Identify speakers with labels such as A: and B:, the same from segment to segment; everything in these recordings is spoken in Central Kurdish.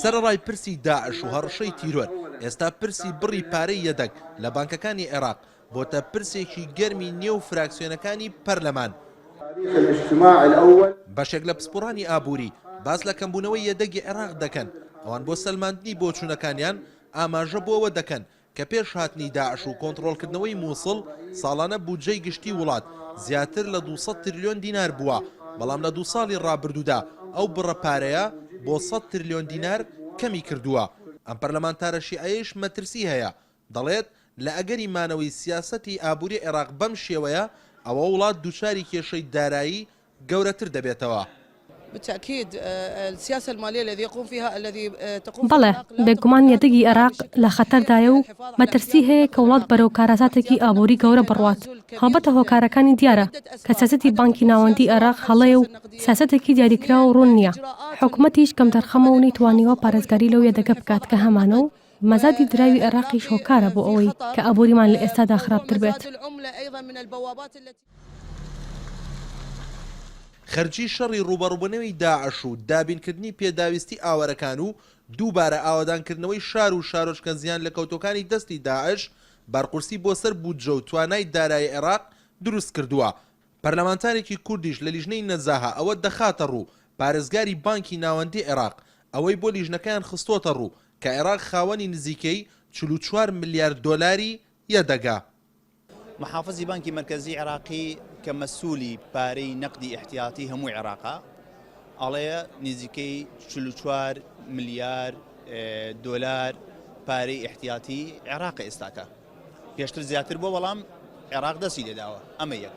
A: سەرەڕای پرسی داعش و هەڕەشەی تیرۆر، ئێستا پرسی بڕی پارەی یەدەگ لە بانکەکانی عێراق بۆتە پرسێکی گەرمی نێو فراکسیۆنەکانی پەرلەمان. بەشێک لە پسپۆڕانی ئابووری باس لە کەمبوونەوەی یەدەگی عێراق دەکەن، ئەوان بۆ سەلماندنی بۆچوونەکانیان ئاماژە بۆ ئەوە دەکەن کە پێش هاتنی داعش و کۆنتڕۆڵکردنەوەی مووسڵ ساڵانە بودجەی گشتی وڵات زیاتر لە دوو سەد ترلیۆن دینار بووە، بەڵام لە دوو ساڵی ڕابردوودا ئەو بڕە پارەیە بۆ سەد ترلیۆن دینار کەمی کردووە. ئەم پەرلەمانتارە شیعەیەیش مەترسی هەیە، دەڵێت، لە ئەگەری مانەوەی سیاسەتی ئابووری عێراق بەم شێوەیە، ئەوە وڵات دووچاری کێشەی دارایی گەورەتر دەبێتەوە. بالتاکید
B: السیاسە المالیە التی یقوم فیها التی تقوم فیها العراق بەڵێ بێگومان
C: یەدەگی عێراق لە خەتەردایە و مەترسی هەیە کە وڵات بەرەو کارەساتێکی ئابووری گەورە بڕوات، هەڵبەتە هۆکارەکانی دیارە کە سیاسەتی بانکی ناوەندی عێراق هەڵەیە و سیاسەتێکی دیاریکراو و ڕوون نییە، حکومەتیش کەمتەرخەمە و نەیتوانیوە پارێزگاری لەو یەدەگە بکات کە هەمانە و مەزادی دراوی عێراقیش هۆکارە بۆ ئەوەی کە ئابووریمان لە ئێستادا خراپتر بێت.
A: خەرجی شەڕی ڕووبەڕووبونەوی داعش و دابینکردنی پێداویستی ئاوەرەکان و دووبارە ئاوەدانکردنەوەی شار و شارۆچکە زیانلەکەوتوەکانی دەستی داعش بەرقورسی بۆ سەر بودجە و توانای دارایی عێراق دروستکردوە پەرلەمانتارێکی کوردیش لە لیژنەی نەزاهە ئەوە دەخاتەڕوو پارێزگاری بانکی ناوەندی عێراق ئەوەی بۆ لیژنەکەیان خستۆتەڕوو کە عێراق خاوەنی نزیکەی چل و چوار ملیار دۆلاری یەدەگە
D: محافزی بانکی مەرکەزی عێراقی کە مەسولی پارەی نەقدی ئیحتیاتی هەموو عێراقە ئەڵەیە نزیکەی 44 ملیار دۆلار پارەی ئیحتیاتی عێراق ئێستاکە پێشتر زیاتر بۆ بەڵام عێراق دەسی لێداوە ئەمە یەک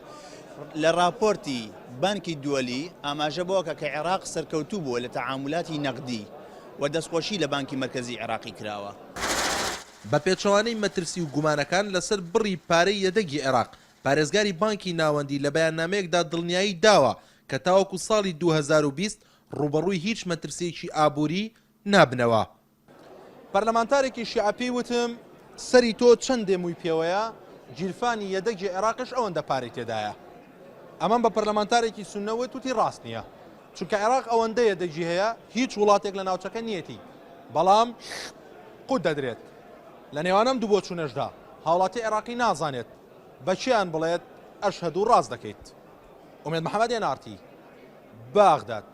D: لە راپۆرتی بانکی دووەلی ئاماژە بۆکە کە عێراق سەرکەوتوو بووە لە تەعاملاتی نەقدی و دەستخۆشی لە بانکی مرکزی عێراقی کراوە. بە
A: پێچەوانەی مەترسی و گومانەکان لەسەر بڕی پارەی یەدەگی عێراق، پارێزگاری بانکی ناوەندی لە بەیاننامەیەکدا دڵنیایی داوە کە تاوەکو ساڵی دوو هەزار و بیست ڕووبەڕووی هیچ مەترسییەکی ئابووری نابنەوە. پەرلەمانتارێکی شیعە پێی وتم، سەری تۆ چەندێ مووی پێوەیە، گیرفانی یەدەگی عێراقیش ئەوەندە پارەی تێدایە. ئەمەم بە پەرلەمانتارێکی سوننە وت، وتی ڕاست نییە. چونکە عێراق ئەوەندە یەدەگی هەیە هیچ وڵاتێک لە ناوچەکە نییەتی، بەڵام قوت دەدرێت لە نێوان ئەم دوو بۆچوونەشدا هاوڵاتی عێراقی نازانێت بە کێیان بڵێت ئەشهەدو ڕاست دەکەیت. ئومێد محەمەد، ئێن ئاڕ تی، بەغداد.